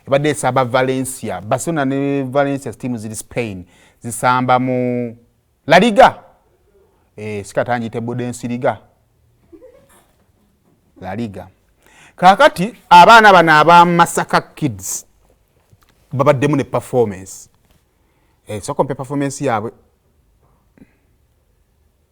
ebadde esamba valencia barcelona ne valencia team ziri spain zisamba mu laliga e, eh, sikatangite budensiriga laliga kakati abaana bano aba masaka kids babaddemu ne performance e, eh, sokompe performance yaabwe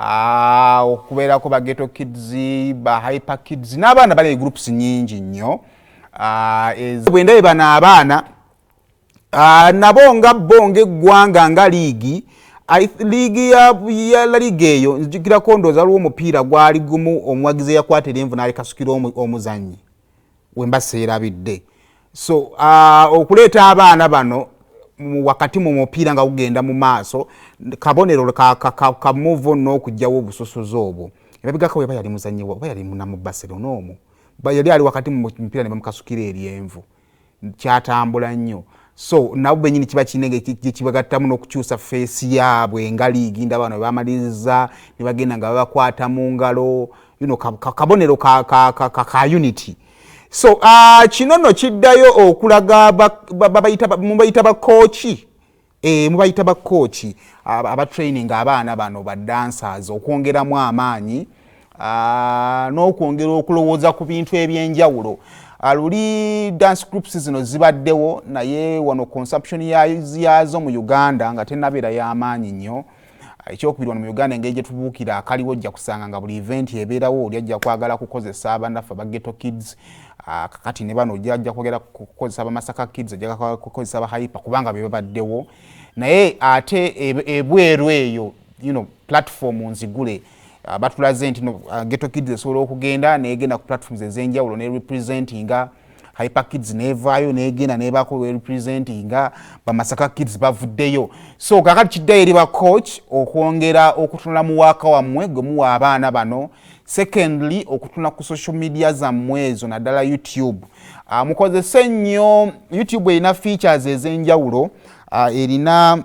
Ah, okubeerako ba geto kids ba hyper kids n'abaana bali groups nyingi nnyo ah, bwendabe bano abaana ah, nabo nga bo ngaeggwanga nga liigi liigi ya laliga eyo nzijukirako ndooza waliwo omupiira gwali gumu omuwagizi eyakwata erenvu n'alekasukira omuzannyi wemba seerabidde so uh, okuleeta abaana bano wakati mu mupiira nga gugenda mu maaso kabonero kamuva on n'okugyawo obusosozi obwo ebabigako weba yali muzanyi oba yali munamu barcelona omu yali ali wakati mu mupiira ne bamukasukira eryenvu kyatambula nnyo so nabo benyini kiba kinenge gyekibagattamu n'okukyusa feesi yaabwe nga liigi ndaba bano bebamaliriza ne bagenda nga babakwata mu ngalo you know, kabonero ka, ka, ka, ka, ka unity so uh, kino no kiddayo okulaga mubayita bakooki e, mubayita bakooki abatraining abaana bano badansers okwongeramu amaanyi Ah, n'okwongera okulowooza ku bintu ebyenjawulo ah, luli dance groups zino zibaddewo naye wano consumption yaazo mu uganda nga tenabeera y'amaanyi nnyo ah, ekyokubiri wano mu uganda engeri gye tubuukira akaliwo ojja kusanga nga buli event ebeerawo oli ajja kwagala kukozesa abanaffe aba ghetto kids kakati ne bano ojja ajja kwogera kukozesa abamasaka kids ojja kukozesa abahayipa kubanga be babaddewo naye ate ebweru eyo you know, platform nzigule uh, batulaze nti no, uh, geto kids esobola okugenda negenda ku platforms ezenjawulo ne representinga hyper kids nevaayo negenda nebako representinga bamasaka kids bavuddeyo so kakati kiddayo eri ba coach okwongera okutunula mu waaka wammwe gwe muwa abaana bano secondly okutuna ku social media zammwe ezo naddala youtube uh, mukozese nnyo youtube erina features ezenjawulo uh, erina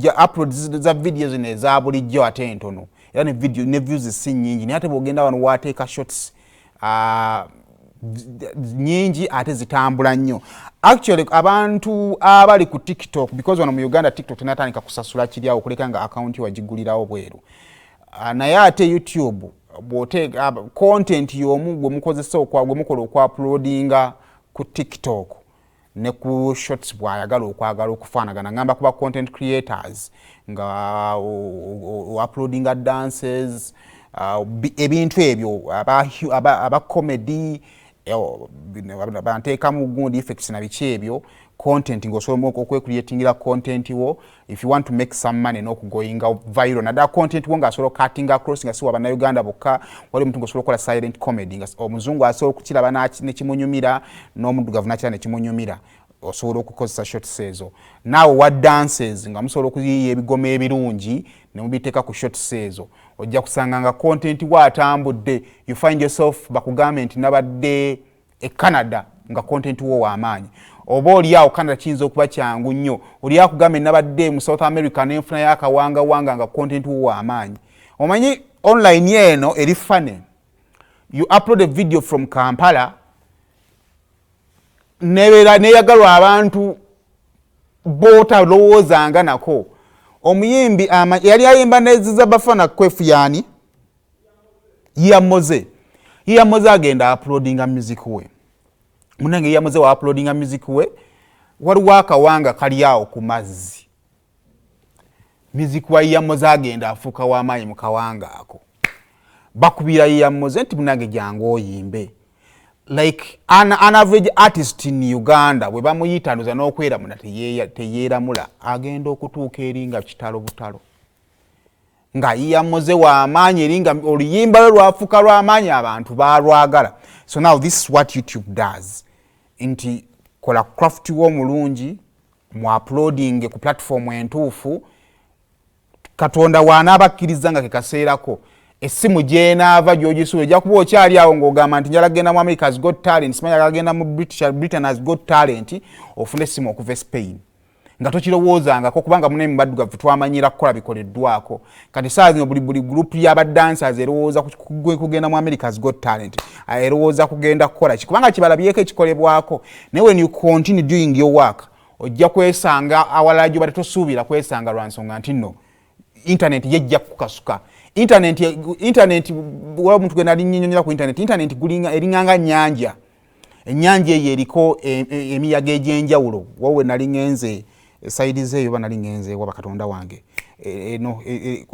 ja upload za video zino eza bulijjo ate entono era ne video ne views si nyingi naye ate bwogenda wano wateeka shots uh, nyingi ate zitambula nnyo actually abantu abali ku tiktok because wano mu uganda tiktok tenatandika kusasula kiryawo okuleka nga akawunti wagigulirawo bweru uh, naye ate youtube bwoteeka uh, content yomu gwemukozesa gwemukola okwapulodinga ku tiktok ne ku shots bwayagala okwagala okufaanagana ngamba kuba content creators nga uploadinga dances uh, ebintu ebyo aba comedy banteekamu gundi effects na biki ebyo content ngaosobola okwecreatingira content wo if you want to make some money nokugoinga viral nadala content wo ngaasobola okatinga across nga siwa bannayuganda bokka wali omuntu ngaosobola okukola silent comedy nga omuzungu asobola okukiraba nekimunyumira n'omuddugavu nakira nekimunyumira osobola okukozesa shots ezo naawe wa dances nga musobola okuyiiya ebigoma ebirungi nemubiteeka ku shots ezo ojja kusanga nga content wo atambudde you find yourself bakugambe nti nabadde e canada nga content wo wamaanyi oba oli awo canada kiyinza okuba kyangu nnyo oli akugambe nabadde mu south america nenfuna yakawangawanga nga content wo wamaanyi omanyi online eno eri fane you upload a video from kampala nebeera neyagalwa abantu botalowoozanga nako omuyimbi yali ayimba neziza bafana kwefu yani ya moze ya moze agenda uploadinga music we munange ya moze wa uploadinga music we waliwo akawanga kali awo ku mazzi music wa ya moze agenda afuuka wamaanyi mu kawanga ako bakubira ya moze nti munange jangu oyimbe like an, an average artist in uganda bwe bamuyitanduza n'okweramuna teyeeramula agenda okutuuka eri nga kitalo butalo nga iyamoze wamaanyi eri nga oluyimba lwe lwafuka lwamaanyi abantu balwagala so now this is what youtube does nti kola craft wo omulungi mu uploading ku platform entuufu katonda wanaaba akkiriza nga kekaseerako essimu gyenaava gyogisuula ojja kuba okyali awo ngaogamba nti njala kugenda mu america has got talent simanya agenda mu britain has got talent ofuna essimu okuva e spain nga tokirowoozangako kubanga munaye mubaddugavu twamanyira kukola bikoleddwako kati saa zino buli buli group yabadancers erowooza kugenda mu americas got talent ah, erowooza kugenda kukola ki kubanga kibalabyeko ekikolebwako naye when you continue doing your work ojja kwesanga awalala gyoba tetusuubira kwesanga lwa nsonga nti no intaneti yejja kukasuka intaneti intaneti waba omuntu gwe nali nyinyonyola ku intaneti intaneti eringa nga nyanja ennyanja eyo eriko e, e, emiyaga egy'enjawulo wawo we nali ŋenze esayidi zeeyo oba nali ŋenze waba katonda wange e, eno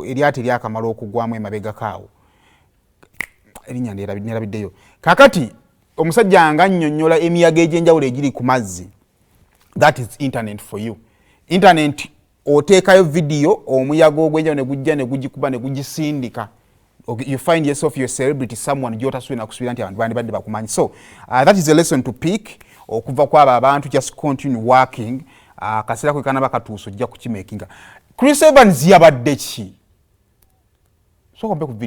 eryato eryakamala okugwamu emabegakaawo erinnya nerabiddeyo kakati omusajja nga annyonnyola emiyaga egy'enjawulo egiri ku mazzi that is internet for you internet oteekayo vidiyo omuyaga ogwenjawo ne gujja ne gugikuba ne gugisindika you find yourself your celebrity someone gyotasubira nakusubira nti abantu bandibadde bakumanyi so uh, that is a lesson to pick okuva kwabo abantu just continue working uh, kaseera kwe kanaba katuusa ojja kukimakinga chris evans yabadde ki sokombe ku